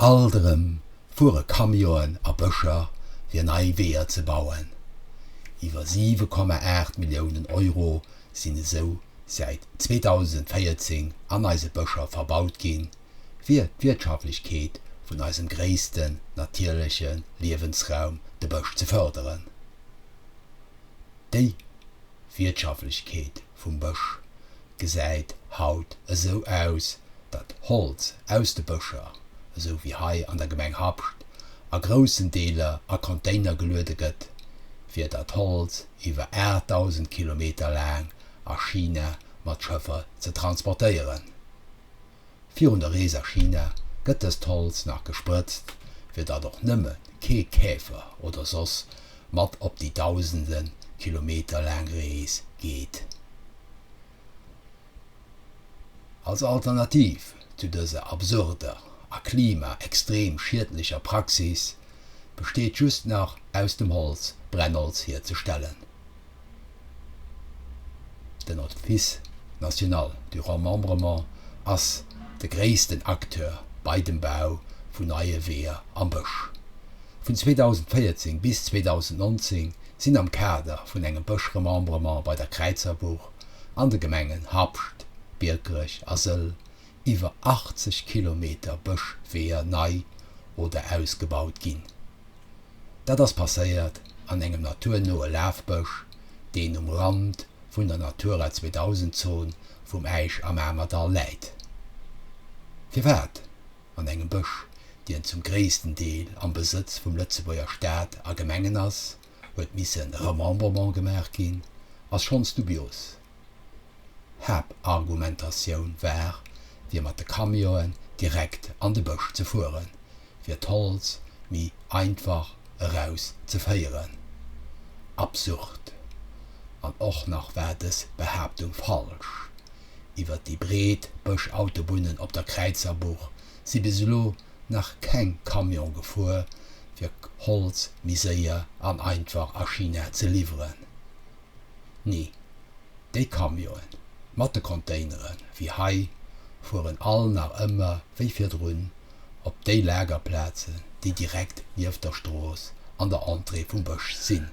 Alt erëm fuere Camionen a Bëscher fir nei Weeër ze bauen. Iwwer 7,8 Milliounen Euro sinn esou säit 2014 an eise Bëscher verbaut ginn, fir d'Wirtschaftlechkeet vun eisem gréissten natierleche Liewensraum, de Bësch, ze fërderen. Déi Wirtschaftlechkeet. vum Bësch gesäit haut esou aus, datt Holz aus de Bëscher, esou wéi hei an der Gemeng Habscht, a groussen Deeler a Container geluede gëtt, fir dat Holz iwwer 8.000 Kilometer laang a China mat Schëffer ze transportéieren. Virun der Rees a China gëtt dëst Holz nach gesprëtzt, fir datt och nëmme kee Käfer oder soss mat op déi dausende Kilometer laang Rees geet. Als Alternativ zu dëser absurder a Klima extrem schiedlecher Praxis besteet just nach aus dem Holz Brennholz hierzestellen. Den Office national du remembrement ass de gréissten Acteur bei dem Bau vun neie Weeër am Bësch. Vun 2014 bis 2019 sinn am Kader vun engem Bësch-Remembrement bei der Kräizerbuch an de Gemengen Habscht, Biekerech a Sëll iwwer 80 Kilometer Bëschweeër nei oder ausgebaut ginn. Dat ass passéiert an engem naturnoe Lafbësch, deen um Rand vun der Natura 2000 Zon vum Äisch am Amerdall läit. Firwat an engem Bësch, dien zum gréissten Deel am Besëtz vum Lëtzebuerger Staat a Gemengen ass, huet missen Remembrement gemaach ginn, ass schonns dubios. D'Haaptargumentatioun war, fir mat de Camionen direkt an de Bësch ze fueren, fir d'Holz méi einfach eraus ze féieren. Absurd! An och nach war dës Behaaptung falsch. Iwwer déi breet Bëschautobunnen op der Kräizerbuch si bis elo nach keng Camione gefuer, fir Holz méi séier an einfach a China ze liwweren. Nee, déi Camionen mat de Containere wéi hei fueren all nach ëmmer wéi virdrun op déi Lagerplazen, déi direkt nieft der Strooss an der Entrée vum Bësch sinn.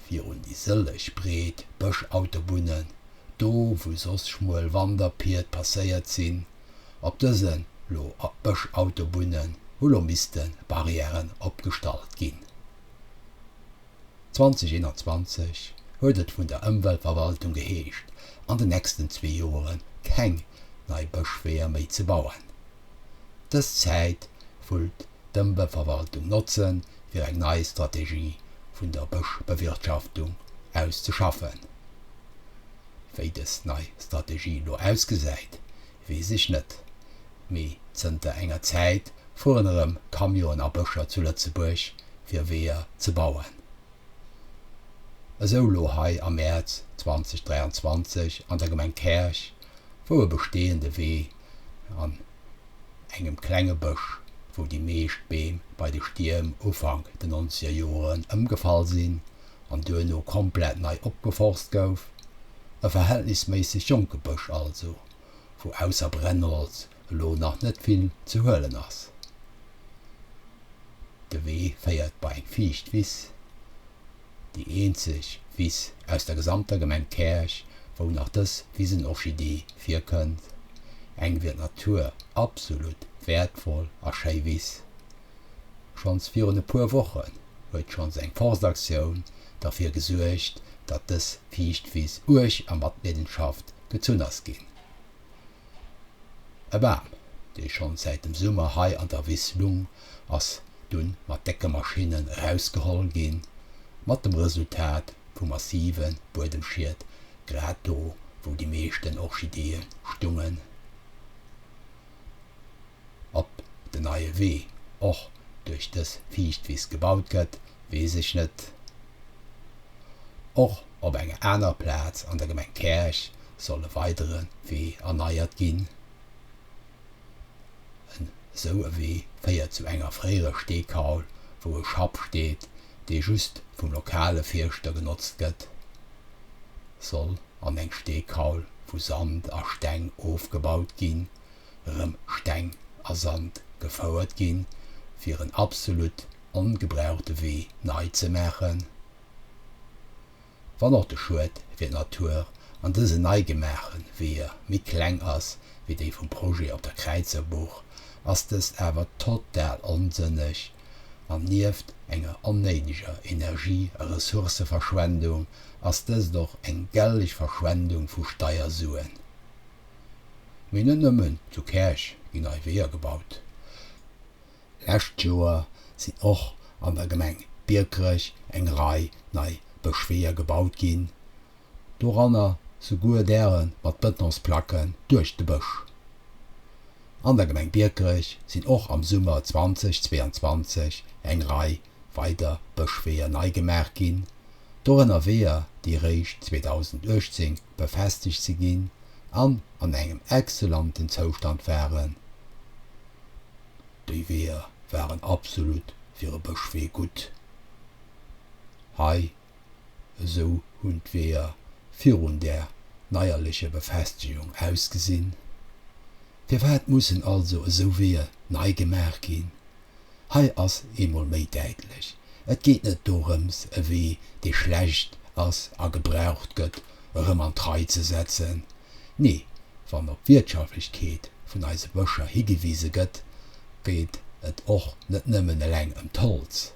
Virun déi sëlleg breet Bëschautobunnen, do wou soss schmuel Wanderpied passéiert sinn, op dësen lo Bëschautobunnen hu lo missten Barrièren opgestallt ginn. 2021 huet et vun der Ëmweltverwaltung geheescht, an den nächsten zwee Jore keng nei Bëschweeër méi ze bauen. Dës Zäit wëllt d'Ëmweltverwaltung notzen, fir eng nei Strategie vun der Bëschbewirtschaftung auszeschaffen. Wéi dës nei Strategie elo ausgesäit, Weess ech net, mee zënter enger Zäit fueren erëm Camionen a Bëscher zu Lëtzebuerg fir Weeër ze bauen. Esou elo hei am Mäerz 2023 an der Gemeng Käerch, wou e besteeënde Wee an engem klenge Bësch, wou déi meescht Beem bei de Stierm Ufank den nonzeger Joren ëmgefall sinn an duerno komplett nei opgeforst gouf, e verhältnisméisseg jonke Bësch also, wou ausser Brennholz elo nach net vill ze huelen ass. De Wee féiert bei eng fiicht Wiss, déi eenzeg Wiss aus der gesamter Gemeng Käerch, wou nach dës Wisenorchidee virkënnt, eng fir d'Natur absolut wäertvoll a schéi Wiss. Schonns virun e puer Wochen huet schonns eng Forstaktioun derfir gesuergt, datt dës fiicht Wiss uerg a mat Leedenschaft gëtt zou nass ginn. E Bam, dee schonn säit dem Summer hei an der Wiss lung, ass dunn mat décke Maschinnen erausgeholl ginn, mat dem Resultat vu massive Buedemschied, grad do, wou déi meeschten Orchideeë stungen. Ob den neie Wee och duerch dës Fiichtwiss gebaut gëtt, weess ech net. Och op enger aner Plaz an der Gemeng Käerch soll e weidere Wee erneiert ginn. En esou e Wee féiert zu enger fréierer Steekaul, wou e Schapp steet, dee just vum lokale Fierschter genotzt gëtt. Soll an eng Steekaul vu Sand a Steng ofgebaut ginn, erëm Steng a Sand gefouert ginn, fir en absolut ongebrauchte Wee nei ze maachen. Wann och de Schued fir d'Natur an dësen nei gemaache Weeër méi kleng ass wéi déi vum Projet op der Kräizerbuch, ass dëst awer total onsënneg an nieft enger onnéideger Energie a Ressourcëverschwendung ass dëst och eng gellech Verschwendung vu Steiersuen. Mee net nëmmen zu Käerch ginn nei Weeër gebaut. Lescht Joer sinn och an der Gemeng Biekerech eng Rei nei Bëschweeër gebaut ginn, doranner souguer däre mat Bëtonsplacken duerch de Bësch. An der Gemeng Biekerech sinn och am Summer 2022 eng Rei weider Bëschweeër nei gemaach ginn, dorënner Weeër, déi eréischt 2018 befestegt ze ginn an an engem exzellenten Zoustand waren. Déi Weeër waren absolut fir e Bëschwee gutt. Hei esou hunn d'Weeër virun där neierlecher Befestegung ausgesinn. Firwat mussen also esou Weeër nei gemaach ginn? Hei ass eemol méi däitlech, et geet net dorëms, e Wee, dee schlecht ass a gebraucht gëtt, erëm an d'Rei ze setzen. Nee, wann op d'Wirtschaflechkeet vun eise Bëscher higewise gëtt, geet et och net nëmmen eleng ëm d'Holz.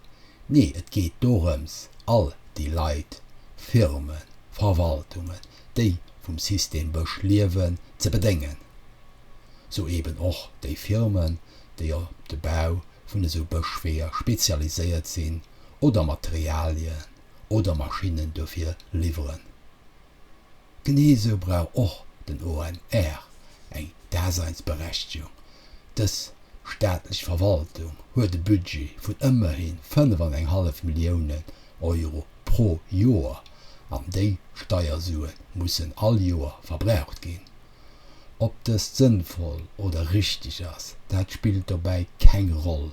Nee, et geet dorëms, all déi Leit, Firmen, Verwaltungen, déi vum System Bësch liewen, ze bedéngen. Sou eeben och déi Firmen, déi op de Bau vun esou Bëschweeër spezialiséiert sinn oder Materialien oder Maschinnen dofir liwweren. Genee esou brauch och den ONR eng Daseinsberechtegung. Dës staatlech Verwaltung huet e Budget vun ëmmerhi fënnef an eng hallef Milliounen Euro pro Joer an déi Steiersuen mussen all Joer verbraucht ginn. Ob dëst sënnvoll oder richteg ass, dat spillt dobäi keng Roll.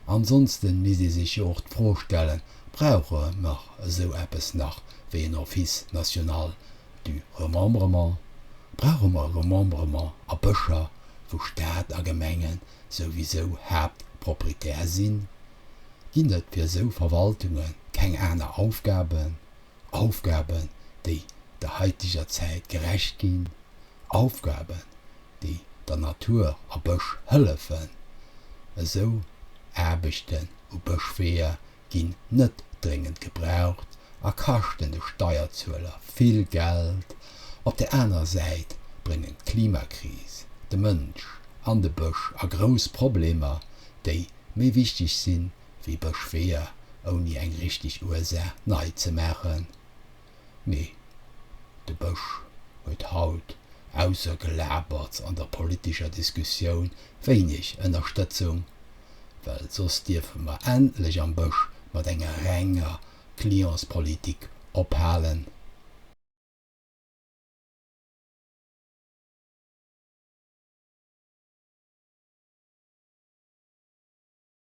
Ansonsten misst ee sech jo och d'Fro stellen, Brauche mer esou eppes nach wéi en Office national du remembrement? Brauche mer Remembrement a Bëscher, wou Staat a Gemenge souwisou Haaptproprietär sinn? Ginn et fir esou Verwaltunge keng aner Aufgaben? Aufgaben, déi der haiteger Zäit gerecht ginn, Aufgaben, déi der Natur a Bësch hëllefen. Esou Aarbechten u Bëschweeër ginn net dréngend gebraucht a kaschten de Steierzueler vill Geld. Op der anerer Säit bréngen d'Klimakris, de Mënsch an de Bësch a grouss Problemer, déi méi wichteg sinn, wéi Bëschweeër, ouni eng richteg Ursaach nei ze maachen. Mee de Bësch huet haut, ausser Gelaberts an der politescher Diskussioun, wéineg Ënnerstëtzung, well soss dierfe mer endlech am Bësch mat enger renger Clientspolitik ophalen.